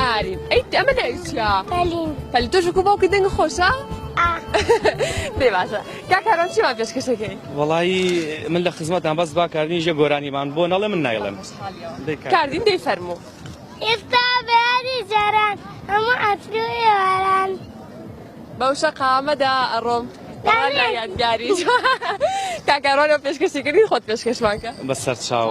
ئارین ئەی ئەمە ناوی چیە؟ پەلین پەلین تۆش وەکو باوکت دەنگ خۆشە؟ دێ باشە کا کاران چیمان پێشکەشەکەی؟ وەڵایی من لە خزمەتان بەس با کاردین ژە گۆرانیمان بۆ نەڵێ من نایڵێم کاردین دەی فەرموو ئێستا بەیاری جاران هەموو ئەترو ئێواران بەو شەقامەدا ئەڕۆم یادگاری کاکارۆنە پێشکەشی کردی خۆت پێشکەشمانکە بە سەرچاو.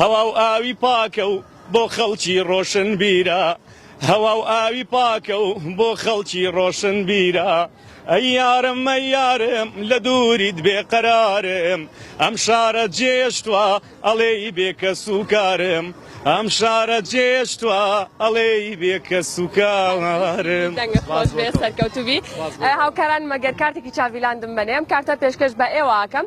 هەوا و ئاوی پاکە و بۆ خەڵکی ڕۆشنبیرە هەوا و ئاوی پاکە و بۆ خەڵکی ڕۆشنبیرە ئەی یارم ئەی یارم لە دووریت بێقەرارم ئەم شارە جێشتوە ئەڵێی بێکەس و کارم ئەم شارە جێشتوە ئەڵێی بێکەس و کارم دەنگە خۆش بێ سەرکەوتوبی هاوکاران مەگەر کارتێکی چاڤیلاندم بەنێم کارتە پێشکەش بە ئێوە ئاکەم